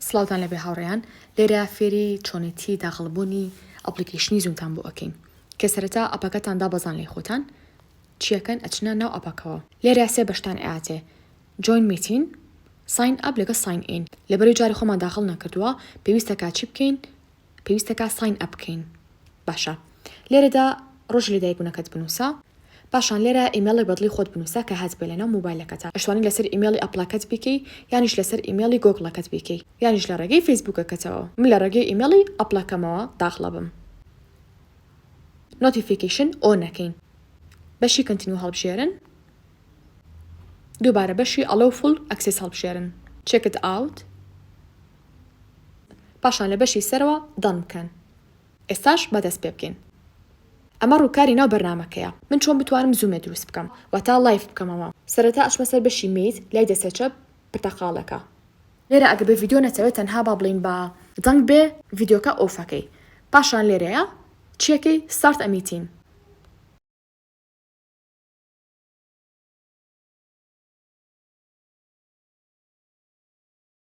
سڵاوتان لێبێ هاوڕێیان لێرە فێری چۆنێتی داخڵ بوونی ئەپڵیکەیشنی زوومتان بۆ ئەکەین کە سەرەتا ئەپەکەتان دابەزان لای خۆتان چیەکەن ئەچنە ناو ئەپەکەوە لێرە سێ بەشتان ئەیاتێ جۆین میتین ساین ئەپ لەگەڵ ساین ئین لەبەرەوەی جاری خۆمان داخڵ نەکردووە پێویستە کە چی بکەین پێویستەکا ساین ئەپ بکەین باشە لێرەدا ڕۆژی لەدایک بونەکەت بنوسە پاشان لێرە ئیمێڵی بەدڵی خۆت بنوسە کە هاتبێ لەناو موبایلەکەتا ئەشتوانی لەسەر ئیمێڵی ئەپڵەکەت بیکەی یانیش لەسەر ئیمێڵی گۆگڵەکەت بیکەی یانیش لە ڕێگەی فەیسبوکەکەتەوە من لە ڕێگەی ئیمێڵی ئەپڵەکەمەوە داخڵە بم نۆتیفیکەیشن ئۆ نەکەین بەشی کەنتینو هەڵبژێرن دووبارە بەشی ئەڵۆ فول ئەکسێس هەڵبژێرن چێکت ئاوت پاشان لە بەشی سەرەوە دان بکەن ئێستاش با دەست پێبکەین ئەمە ڕوکاری ناو بەرنامەکەیە من چۆن بتوانم زومێ دروست بکەم واتا لایڤ بکەمەوە سەرەتا ئەچمە سەر بەشی مێیت لای دەستە چەپ پرتەقاڵەکە لێرە ئەگەر بە ڤیدیۆ نەتەوێت تەنها با بڵێین بە دەنگ بێ ڤیدیۆکە ئۆفەکەی پاشان لێرەیە چیەکەی ستارت ئە میتین.